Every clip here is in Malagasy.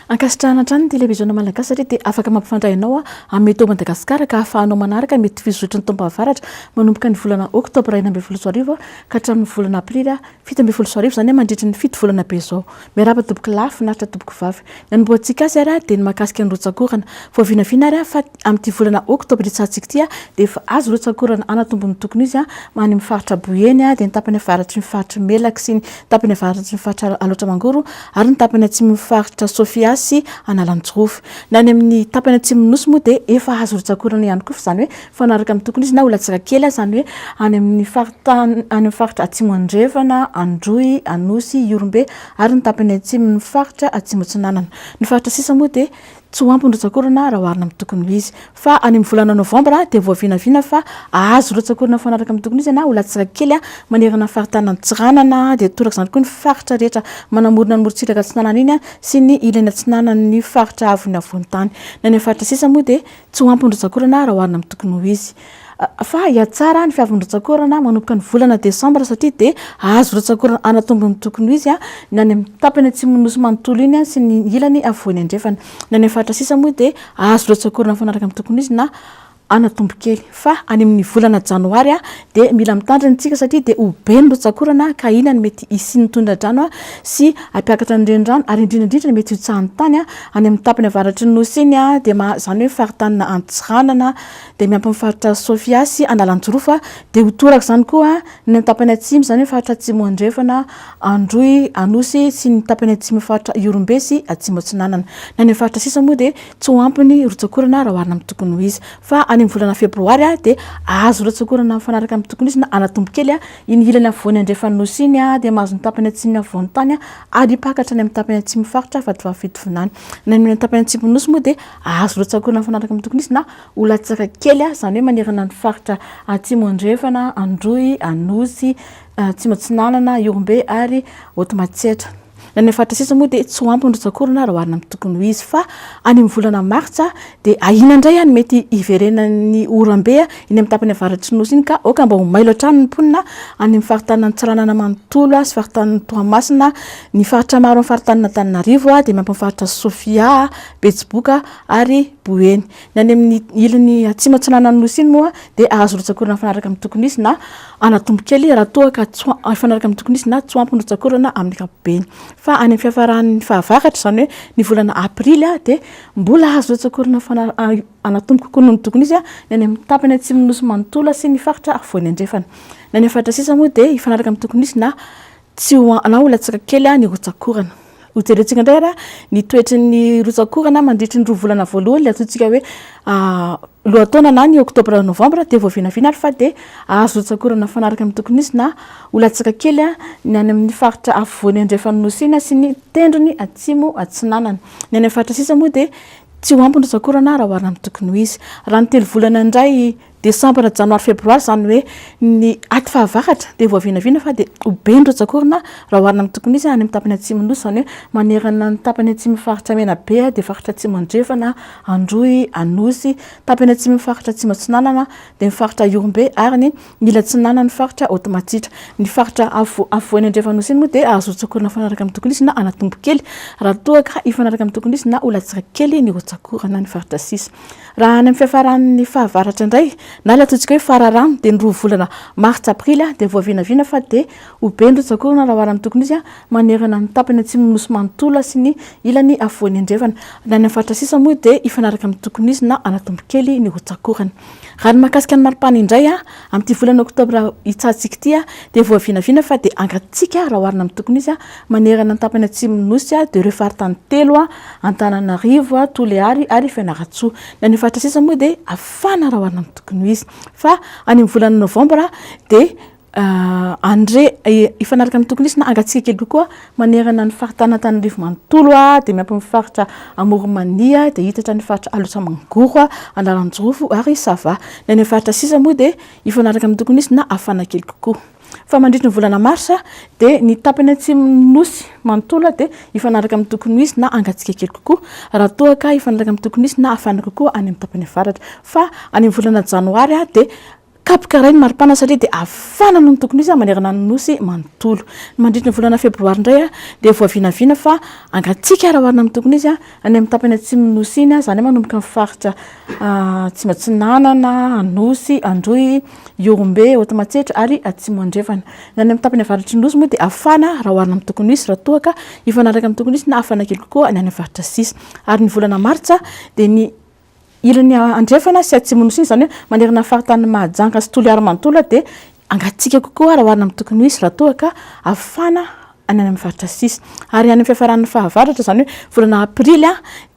Ankasitrahana hatrany ny televiziona malagasy satria dia afaka mampifandray anao amin'ny eto Madagasikara ka ahafahanao manaraka mety fizotry ny taom-pahavaratra manomboka ny volana oktobra enina ambin'ny folo sy roa arivo ka hatramin'ny volana aprily fito ambin'ny folo sy roa arivo, izany hoe mandritra ny fito volana be izao. Miarahaba tompoko lahy, finaritra tompoko vavy. Ny anombohantsika azy ary dia ny mahakasika ny rotsakorana. Vao vinavina ary fa amin'ity volana oktobra iatsahantsika ity dia efa azo rotsakorana anatombony ny tokony izy any amin'ny faritra Boeny dia ny tapany avaratry ny faritry Melaky sy ny tapany avaratry ny faritra Alaotra Mangoro ary ny tapany atsimon'ny faritra Sofia sy Analanjirofo. Ny any amin'ny tapany atsimon'ny Nosy moa dia efa azo rotsakorana ihany koa fa izany hoe mifanaraka amin'ny tokony izy na olatsaka kely aza any hoe any amin'ny faritany any amin'ny faritra atsimo andrefana androy anosy ihorombe ary ny tapany atsimo ny faritra atsimo atsinanana ny faritra sisa moa dia tsy ho ampy ny rotsakorana raha oharina amin'ny tokony ho izy fa any amin'ny volana novambra dia voavinavina fa ahazo rotsakorana mifanaraka amin'ny tokony izy na olatsaka kely a manerana ny faritany antsiranana dia toraka izany koa ny faritra rehetra manamorona ny morontsiraka atsinanana iny a sy ny ilany atsinanan'ny faritra avony avontany na ny faritra sisa moa dia Tsy ho ampy ondrantsakorana raha oharina amin'ny tokony ho izy. Fa hihatsara ny fiavin'ny rantsakorana manomboka ny volana desambra satria dia hahazo rantsakorana hanatombo ny tokony ho izy ny any amin'ny tapany atsimon'ny nosy manontolo iny sy ny ilany afovoany andrefana. Ny any amin'ny faritra sisa moa dia hahazo rantsakorana mifanaraka amin'ny tokony ho izy na hanatombo kely. fa any amin'ny volana janoary dia mila mitandrina isika satria dia ho be ny rotsak'orana ka inona no mety hisian'ny tondra-drano sy hampiakatra ny renirano ary indrindra indrindra ny mety hotsahan'ny tany any amin'ny tapany avaratry ny nosy iny dia maha izany hoe faritaninà Antsiranana dia miampy ny faritra Sofia sy Analanjirofo dia ho toraka izany koa ny tapany atsimo izany hoe faritra atsimo andrefana Androy Anosy sy ny tapany atsimon'ny faritra Ihorombe sy Atsimo Atsinanana na ny faritra sisa moa dia tsy ho ampy ny rotsak'orana raha oharina amin'ny tokony ho izy fa any amin'ny volana febroary dia azo rotsak'orana mifanaraka amin'ny tokony izy na anatombo kely iny ilany afovoany andrefan'ny nosy iny dia mahazo ny tapany atsimo ny afovoan'ny tany ary hipaka hatrany amin'ny tapany atsimo faritra Vatovavy-Fitovinany na ny tapany atsimo nosy moa dia azo rotsak'orana mifanaraka amin'ny tokony izy na ho latsaka kely izany hoe manerana ny faritra atsimo andrefana Androy, Anosy, Atsimo Atsinanana, Ihorombe ary Hotomatsietra. Na ny faritra sisa moa dia tsy ho ampy ny rotsak'orana raha oharina amin'ny tokony ho izy. Fa any amin'ny volana martsa dia ahiana indray any mety hiverenan'ny oram-be eny amin'ny tapany avaratr'ny Nosy iny ka aoka mba ho mailo hatrany ny mponina any amin'ny faritaninan'i Tsiranana manontolo sy faritanin'i Toamasina. Ny faritra maro amin'ny faritanin'Antananarivo dia miampy ny faritra Sofia, Betsiboka ary Boeny. Ny any amin'ny ilany atsimo-atsinanan'ny nosy iny moa dia azo rotsakorana mifanaraka amin'ny tokony hisy na anatombo kely raha toa ka tsy mifanaraka amin'ny tokony hisy na tsy ho ampy ny rotsakorana amin'ny ankapobeny. Fa any amin'ny fiafaran'ny fahavaratra, izany hoe ny volana aprily, dia mbola azo rotsakorana anatombo kokoa noho ny tokony hisy ny any amin'ny tapany atsimon'ny nosy manontolo sy ny faritra afovoany andrefana. Ny any amin'ny faritra sisa moa dia hifanaraka amin'ny tokony hisy na Tsy ho anao ilay tsaka kely ny rotsak'orana. Hojerentsika indray ary ny toetry ny rotsak'orana mandritry ny roa volana voalohany, ilay antsointsika hoe lohataona na ny oktobra novambra dia vao vinavina ary fa dia azo rotsak'orana mifanaraka amin'ny tokony hisy na ho latsaka kely ny any amin'ny faritra afovoany andrefan'ny Nosy Ina sy ny tendrony atsimo atsinanana. Ny any amin'ny faritra sisa moa dia tsy ho ampy ny rotsak'orana raha oharina amin'ny tokony ho izy. Raha ny telo volana indray Desambra, Janoary, Febroary, izany hoe ny aty fahavaratra, dia voavinavina fa dia ho be ny rotsak'orana raha oharina amin'ny tokony hisy any amin'ny tapany atsimon'ny Nosy, izany hoe manerana ny tapany atsimon'ny faritra Menabe dia faritra Atsimo Andrefana, Androy, Anosy, tapany atsimon'ny faritra Atsimo Atsinanana dia ny faritra Ihorombe ary ny ilatsinanan'ny faritra Haotomatsitra. Ny faritra afovoany andrefan'Nosy iny moa dia hahazo rotsak'orana mifanaraka amin'ny tokony hisy na hanatombo kely raha toa ka hifanaraka amin'ny tokony hisy na ho latsaka kely ny rotsak'orana ny faritra sisa. Raha any amin'ny fiafaran'ny fahavaratra indray, na ilay atsointsika hoe fararano, dia ny roa volana martsa, aprily, dia voavinavina fa dia ho be ny rotsakorana raha oharina amin'ny tokony izy, manerana ny tapany atsimon'ny nosy manontolo sy ny ilany afovoany andrefana. Ny any amin'ny faritra sisa moa dia hifanaraka amin'ny tokony izy na hanatombo kely ny rotsakorana. Raha ny mahakasika ny maripana indray, amin'ity volana oktobra hitsahantsik'ity, dia voavinavina fa dia hangatsiaka raha oharina amin'ny tokony izy Manerana ny tapany atsimon'ny Nosy dia ireo faritany telo, Antananarivo, Toliary ary Fianarantsoa. Ny any faritra sisa moa dia hafana raha oharina amin'ny tokony ho izy. Fa any amin'ny volana novambra dia handre hifanaraka amin'ny tokony hisy na hangatsiaka kely kokoa manerana ny faritanin'Antananarivo manontolo dia miampy ny faritra Amoronmania dia hiditra ny faritra Alaotra-Mangoro, Analanjirofo ary Sava. Ny any amin'ny faritra sisa moa dia hifanaraka amin'ny tokony hisy na hafana kely kokoa. fa mandritry ny volana marsa dia ny tapany atsimon'ny nosy manontolo dia hifanaraka amin'ny tokony ho izy na hangatsiaka kely kokoa raha toa ka hifanaraka amin'ny tokony ho izy na hafana kokoa any amin'ny tapany avaratra fa any amin'ny volana janoary dia kapoka iray ny maripana satria dia hafana noho ny tokony ho izy manerana ny nosy manontolo. Mandritry ny volana febroary indray dia voavinavina fa hangatsiaka raha oharina amin'ny tokony ho izy Any amin'ny tapany atsimon'ny Nosy iny, izany hoe manomboka ny faritra Atsimo Atsinanana, Anosy, Androy, Ihorombe, Haotomatsetra ary Atsimo Andrefana. Ny any amin'ny tapany avaratry ny Nosy moa dia hafana raha oharina amin'ny toko Nosy, raha toa ka hifanaraka amin'ny toko Nosy na hafana kely kokoa ny any amin'ny faritra sisa. Ary ny volana martsa dia ny Ilany andrefana sy atsimo nosy iny, izany hoe manerana ny faritanin'i Mahajanga sy Toliara manontolo dia hangatsiaka kokoa raha oharina amin'ny tokony ho izy raha toa ka hafana any amin'ny faritra sisa. Ary any amin'ny fiafaran'ny fahavaratra, izany hoe volana aprily,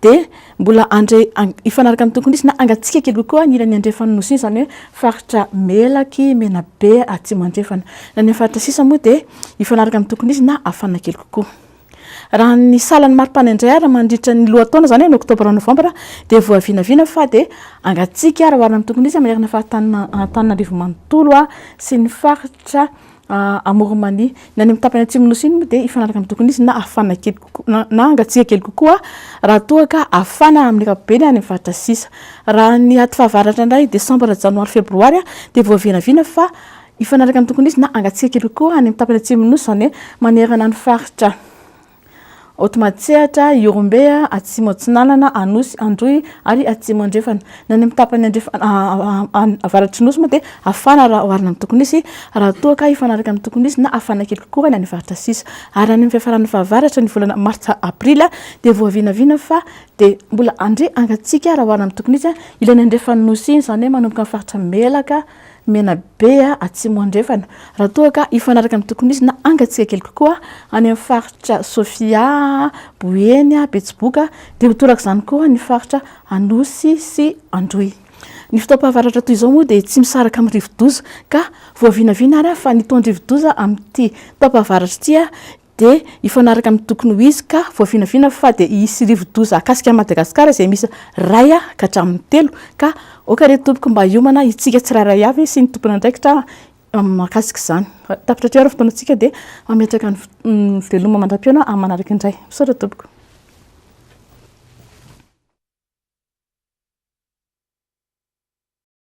dia mbola handre hifanaraka ny tokony ho izy na hangatsiaka kely kokoa ny ilany andrefan'ny nosy iny, izany hoe faritra Melaky, Menabe, Atsimo Andrefana. Ny any amin'ny faritra sisa moa dia hifanaraka amin'ny tokony ho izy na hafana kely kokoa. Raha ny salan'ny maripana indray ary mandritra ny lohataona, izany hoe ny oktobra, novambra, dia voavinavina fa dia hangatsiaka raha oharina amin'ny tokony ho izy manerana ny faritanin'i Antananarivo manontolo sy ny faritra Amoronmania. Ny any amin'ny tapany atsimon'ny Nosy iny moa dia hifanaraka amin'ny tokony ho izy na hafana kely kokoa, na hangatsiaka kely kokoa raha toa ka hafana amin'ny ankapobeny any amin'ny faritra sisa. Raha ny aty fahavaratra indray, desambra, janoary, febroary, dia voavinavina fa Hifanaraka amin'ny tokony hisy na hangatsiaka ery koa any amin'ny tapany atsimon'ny Nosy, izany hoe manerana ny faritra Aotimatsehatra, Ihorombe, Atsimo Atsinanana, Anosy, Androy ary Atsimo Andrefana. Ny any amin'ny tapany andrefana avaratry ny Nosy moa dia hafana raha oharina amin'ny tokony hisy, raha toa ka hifanaraka amin'ny tokony hisy na hafana kely kokoa ny any avaratra sisa. Ary any amin'ny fiafaran'ny fahavaratra, ny volana martsa, aprily, dia voavinavina fa dia mbola handre hangatsiaka raha oharina amin'ny tokony hisy ilay nandrefan'ny Nosy iny, izany hoe manomboka amin'ny faritra Melaka, Menabe Atsimo Andrefana, raha toa ka hifanaraka ny tokony ho izy na hangatsiaka kely kokoa any amin'ny faritra Sofia, Boeny, Betsiboka dia ho toraka izany koa ny faritra Anosy sy Androy. Ny fotoam-pahavaratra toy izao moa dia tsy misaraka amin'ny rivo-doza ka voavinavina ary fa ny taon-drivo-doza amin'ity taom-pahavaratra ity dia hifanaraka amin'ny tokony ho izy ka voavinavina fa dia hisy rivodoza hakasika an'i Madagasikara izay miisa iray ka hatramin'ny telo ka aoka re tompoko mba hiomana isika tsirairay avy sy ny tompon'andraikitra mahakasika izany. Tapitra hatreo ary ny fotoanantsika dia hametraka ny veloma mandram-pihaona amin'ny manaraka indray. Misaotra tompoko.